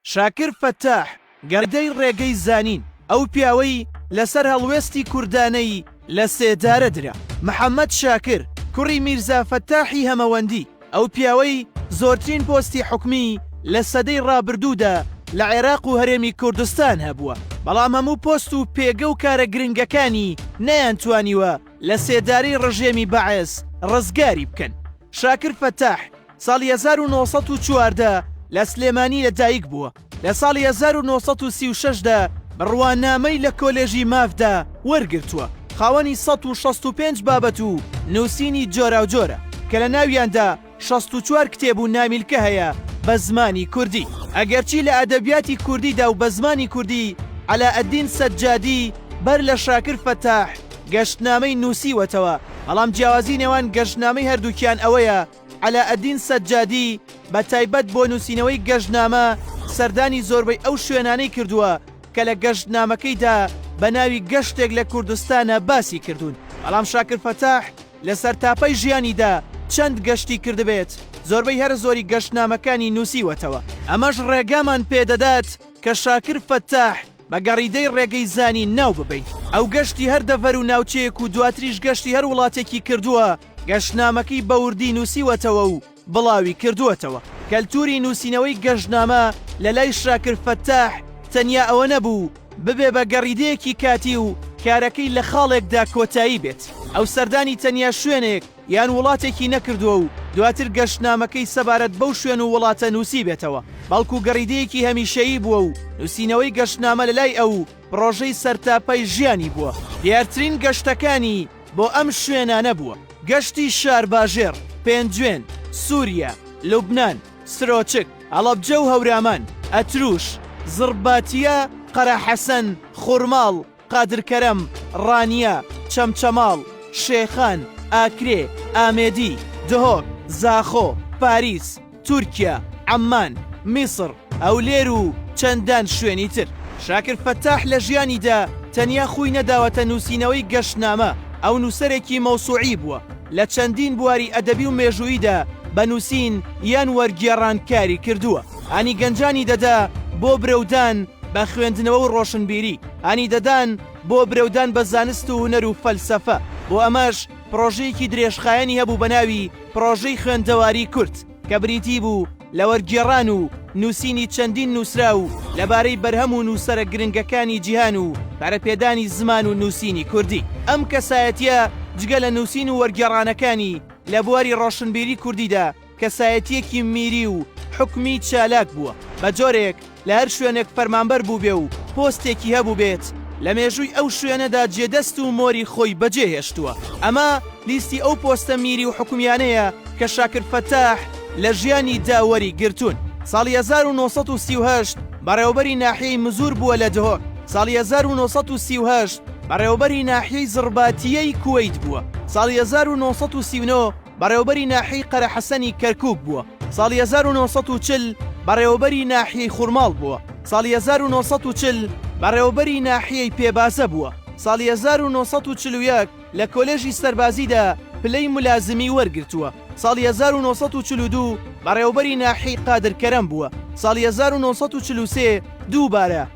شاکر فەتاح، گەردەی ڕێگەی زانین، ئەو پیاوەی لەسەر هەڵوێستی کوردانەی لە سێدارە درا. محەمەد شاکر، کوڕی میرزا فەتاحی هەمەوەندی، ئەو پیاوەی زۆرترین پۆستی حکومی لە سەدەی ڕابردوودا لە عێراق و هەرێمی کوردستان هەبووە، بەڵام هەموو پۆست و پێگە و کارە گرنگەکانی نەیانتوانیوە لە سێدارەی ڕژێمی بەعس ڕزگاری بکەن. شاکر فەتاح، ساڵی هەزار و نۆ سەد و چواردە لە سلێمانی لە دایک بووە، لە ساڵی هەزار و نۆ سەد و سی و شەش دا بڕوانامەی لە کۆلێژی مافدا وەرگرتووە، خاوەنی سەد و شەست و پێنج بابەت و نووسینی جۆراوجۆرە کە لە ناویاندا شەست و چوار کتێب و نامیلکە هەیە بە زمانی کوردی، ئەگەرچی لە ئەدەبیاتی کوردیدا و بە زمانی کوردی عەلائەدین سەجادی بەر لە شاکر فەتاح گەشتنامەی نووسیوەتەوە، بەڵام جیاوازی نێوان گەشتنامەی هەردووکیان ئەوەیە، عەلائەدین سەجادی بە تایبەت بۆ نووسینەوەی گەشتنامە سەردانی زۆربەی ئەو شوێنانەی کردووە کە لە گەشتنامەکەیدا بە ناوی گەشتێک لە کوردستانە باسی کردوون. بەڵام شاکر فەتاح لە سەرتاپای ژیانیدا چەند گەشتی کردبێت، زۆربەی هەرە زۆری گەشتنامەکانی نووسیوەتەوە. ئەمەش ڕێگامان پێ دەدات کە شاکر فەتاح بە گەڕیدەی ڕێگەی زانین ناو ببەین. ئەو گەشتی هەر دەڤەر و ناوچەیەک و دواتریش گەشتی هەر وڵاتێکی کردووە، گەشتنامەکەی بە وردی نووسیوەتەوە و بڵاوی کردووەتەوە. کەلتووری نووسینەوەی گەشتنامە لە لای شاکر فەتاح تەنیا ئەوە نەبوو ببێ بە گەڕیدەیەکی کاتی و کارەکەی لە خاڵێکدا کۆتایی بێت. ئەو سەردانی تەنیا شوێنێک، یان وڵاتێکی نەکردووە و دواتر گەشتنامەکەی سەبارەت بەو شوێن و وڵاتە نووسیبێتەوە، بەڵکو گەڕیدەیەکی هەمیشەیی بووە و نووسینەوەی گەشتنامە لەلای ئەو پڕۆژەی سەرتاپای ژیانی بووە. دیارترین گەشتەکانی بۆ ئەم شوێنانە بووە. گەشتی شارباژێڕ، پێنجوێن، سووریا، لوبنان، سرۆچک، هەڵەبجە و هەورامان، ئەتروش، زڕباتییە، قەراحەسەن، خورماڵ، قادر کەرەم، ڕانیە، چەمچەماڵ، شێخان، ئاکرێ، ئامێدی، دهۆک، زاخۆ، پاریس، تورکیا، عەممان، میسڕ، هەولێر و چەندان شوێنی تر. شاکر فەتاح لە ژیانیدا تەنیا خووی نەداوەتە نووسینەوەی گەشتنامە، ئەو نووسەرێکی مەوسووعی بووە، لە چەندین بواری ئەدەبی و مێژووییدا بە نووسین یان وەرگێڕان کاری کردووە. هانی گەنجانی دەدا بۆ برەودان بە خوێندنەوە و ڕۆشنبیری، هانی دەدان بۆ برەودان بە زانست و هونەر و فەلسەفە، بۆ ئەمەش پڕۆژەیەکی درێژخایەنی هەبوو بە ناوی پڕۆژەی خوێندەواری کورد کە بریتی بوو لە وەرگێڕان و نووسینی چەندین نووسراو لەبارەی بەرهەم و نووسەرە گرنگەکانی جیهان و پەرەپێدانی زمان و نووسینی کوردی. ئەم کەسایەتییە جگە لە نووسین و وەرگێڕانەکانی لە بواری ڕۆشنبیری کوردیدا، کەسایەتییەکی میری و حکومی چالاک بووە، بە جۆرێک لە هەر شوێنێک فەرمانبەر بووبێ و پۆستێکی هەبووبێت، لە مێژووی ئەو شوێنەدا جێ دەست و مۆری خۆی بەجێ هێشتووە، ئەمە لیستی ئەو پۆستە میری و حکومییانەیە کە شاکر فەتاح لە ژیانی دا وەری گرتوون. ساڵی هەزار و نۆ سەد و سی و هەشت بەڕێوەبەری ناحیەی مزور بووە لە دهۆک، ساڵی هەزار و نۆ سەد و سی و هەشت بەڕێوەبەری ناحیەی زڕباتییەی کوەیت بووە، ساڵی هەزار و نۆ سەد و سی و نۆ بەڕێوەبەری ناحیەی قەرەحەسەنی کەرکوک بووە، ساڵی هەزار و نۆ سەد و چل بەڕێوەبەری ناحیەی خورماڵ بووە، ساڵی هەزار و نۆ سەد و چل بەڕێوەبەری ناحیەی پێبازە بووە، ساڵی هەزار و نۆ سەد و چل و یەک لە کۆلێژی سەربازیدا پلەی ملازمی وەرگرتووە، ساڵی هەزار و نۆ سەد و چل و دوو بەڕێوەبەری ناحیەی قادرکەرەم بووە، ساڵی هەزار و نۆ سەد و چل و سێ دووبارە.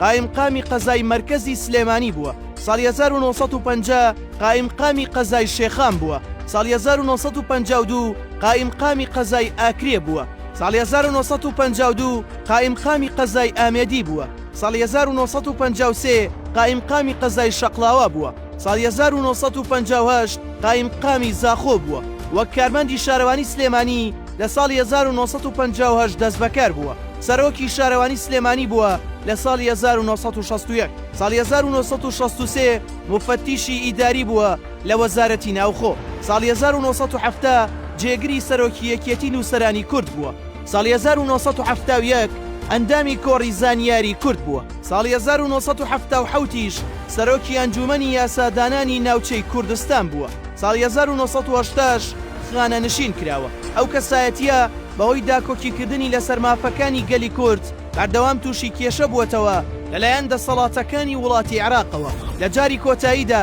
قائیمقامی قەزای مەرکەزی سلێمانی بووە، ساڵی هەزار و نۆ سەد و پەنجا قائیمقامی قەزای شێخان بووە، ساڵی هەزار و نۆ سەد و پەنجا و دوو قائیمقامی قەزای ئاکرێ بووە، ساڵی هەزار و نۆ سەد و پەنجا و دوو قائیمقامی قەزای ئامێدی بووە، ساڵی هەزار و نۆ سەد و پەنجا و سێ قائیمقامی قەزای شەقڵاوا بووە. ساڵی هەزار و نۆ سەد و پەنجا و هەشت قایمقامی زاخۆ بووە، وەک کارمەندی شارەوانی سلێمانی لە ساڵی هەزار و نۆ سەد و پەنجا و هەشت دەستبەکار بووە، سەرۆکی شارەوانی سلێمانی بووە لە ساڵی هەزار و نۆ سەد و شەست و یەک، ساڵی هەزار و نۆ سەد و شەست و سێ موفەتیشی ئیداری بووە لە وەزارەتی ناوخۆ، ساڵی هەزار و نۆ سەد و حەفتا جێگری سەرۆکی یەکیەتی نووسەرانی کورد بووە. ساڵی هەزار و نۆ سەد و حەفتا و یەک ئەندامی کۆڕی زانیاری کورد بووە، ساڵی هەزار و نۆ سەد و حەفتا و حەوت یش سەرۆکی ئەنجوومەنی یاسادانانی ناوچەی کوردستان بووە، ساڵی هەزار و نۆ سەد و هەشتا ش خانەنشین کراوە، ئەو کەسایەتییە بەهۆی داکۆکیکردنی لەسەر مافەکانی گەلی کورد بەردەوام تووشی کێشە بووەتەوە لەلایەن دەسەڵاتەکانی وڵاتی عێراقەوە، لە جاری کۆتاییدا،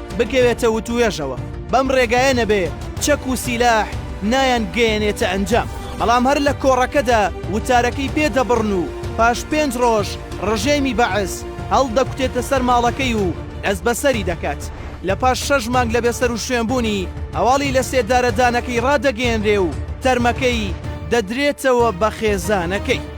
بکەوێتە وتوێژەوە بەم ڕێگایە نەبێ چەک و سیلاح نایان گەیەنێتە ئەنجام بەڵام هەر لە کۆڕەکەدا وتارەکەی پێ دەبڕن و پاش پێنج ڕۆژ ڕژێمی بەعس هەڵدەکوتێتە سەر ماڵەکەی و دەستبەسەری دەکات لە پاش شەش مانگ لە بێسەروشوێن بوونی هەواڵی لە سێدارەدانەکەی ڕادەگەیەنرێ و تەرمەکەی دەدرێتەوە بە خێزانەکەی.